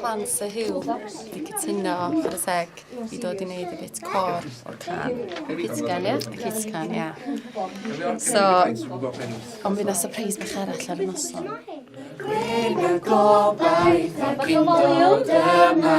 Plan Sir Hugh wedi cytuno ar y seg i dod i wneud y bit cor o'r can. Y bit can, ie? Y bit can, ie. So, ond fydd na surprise bach arall ar y noson. Gwyn y gobaith ac yn dod yma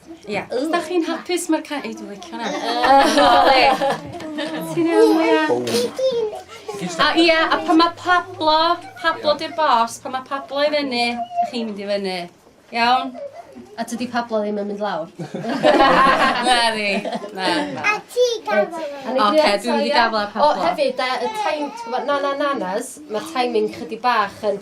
Ia. Os da chi'n hapus mae'r ca- ei dwi licio hwnna. Ti'n iawn Leia? A ia, a pan mae Pablo, Pablo di'r bos, pan mae Pablo i fyny, chi'n mynd i fyny. Iawn? A tydi Pablo ddim yn mynd lawr. Na ni. Na. na. A ti gafael. Oce, dwi'n mynd i gafael ar Pablo. O, hefyd, y time, ti'n gwybod, na na nanas, mae'r timing chydig bach yn...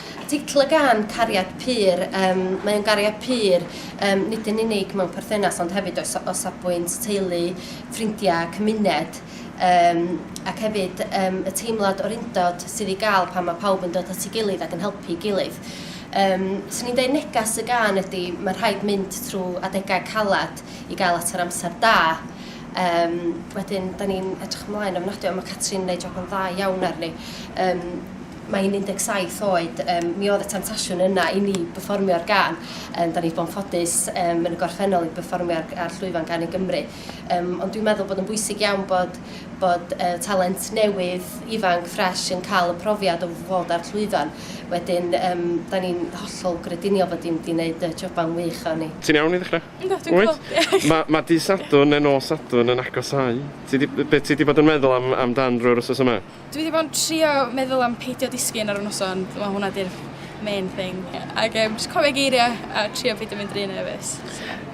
Articl gan Cariad Pur, yym, mae o'n gariad pur, yym, nid yn unig mewn perthynas ond hefyd o sa- o safbwynt teulu, ffrindiau, cymuned, yym, ac hefyd yym y teimlad o'r undod sydd i gael pan mae pawb yn dod at ei gilydd ac yn helpu'i gilydd. Yym, 'swn i'n deud neges y gân ydi ma' rhaid mynd trwy adegau caled i gael at yr amser da. Yym, wedyn 'dan ni'n edrych ymlaen ofnadwy a ma' Catrin yn neud job yn dda iawn arni. Yym. Mae hi'n 17 oed, yym, mi oedd y temtasiwn yna i ni berfformio'r gân. Yym, 'da ni 'di bod yn ffodus yym yn y gorffennol i berfformio ar ar llwyfan Gân i Gymru. Yym, ond dwi'n meddwl bod yn bwysig iawn bod bod yy talent newydd, ifanc, ffresh yn cael y profiad o fod ar llwyfan. Wedyn yym 'da ni'n hollol grediniol fod hi mynd i wneud y job 'ma'n wych efo ni. Ti'n iawn i ddechra? Yndw, dwi'n cŵl. Wyt? Ma' ma' dydd Sadwrn ne' nos Sadwrn yn agosáu. Ti 'di... Be' ti 'di bod yn meddwl am am dan drwy'r wsos yma? Dwi 'di bod yn trio meddwl am peidio disgyn ar y noson, wel hwnna 'di'r main thing. Ag yym jyst cofio geiria' a trio peidio mynd ry nerfus.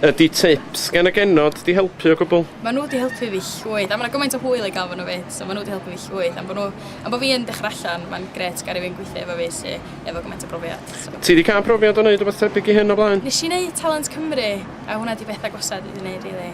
Ydi tips gan y genod 'di helpu o gwbwl? Ma' n'w 'di helpu fi llwyth a ma' 'na gymaint o hwyl i ga'l efo n'w 'fyd so ma' n'w 'di helpu fi llwyth am bo' n'w am bo' fi yn dechra allan ma'n grêt ga' rywun gwithio efo fi sy efo gymaint o brofiad so. Ti 'di ca'l profiad o neud rwbath tebyg i hyn o blaen? Nesh i neud Talent Cymru a hwnna 'di beth agosaf dwi 'di neud rili.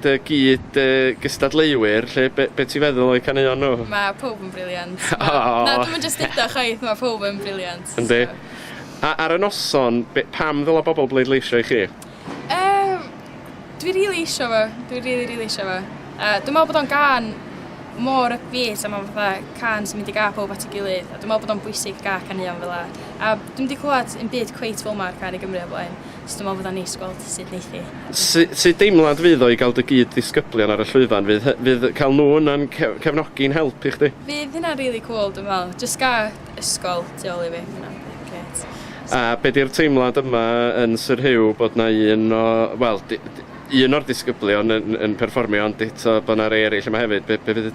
dy gyd yy gystadleuwyr 'lly be' be' ti'n feddwl o'u caneuon nhw? Ma' powb yn briliant. Ma'... Aww! ...na dwi'm yn jyst deud o chwaith ma' powb yn briliant. Yndi. So... A ar y noson be- pam ddyla bobl bleidleisio i chi? Yym dwi rili isio fo dwi rili rili isio fo. Yy dwi me'wl bod o'n gân mor ypbeat a ma' fatha cân sy'n mynd i ga' powb at 'i gilydd a dwi me'wl bod o'n bwysig ga' caneuon fel 'a a dwi'm 'di clŵad 'im byd cweit fel 'ma ar cân i Gymru o blaen. Achos dwi me'wl fydda'n neis gweld sud neith 'i edrych. Su- sut deimlad fydd o i gael dy gyd ddisgyblion ar y llwyfan? Fydd hy- fydd cael nhw yna'n ce- cefnogi'n help i chdi? Fydd hynna'n rili cŵl dwi'n me'wl. Jyst ga' ysgol tu ôl i fi. Hynna fydd yn grêt. A be' 'di'r teimlad yma yn Sir Hugh bod 'na un o, wel, di- di- un o'r disgyblion yn yn perfformio ond eto bo' 'na rei ereill yma hefyd, be' be' fydd y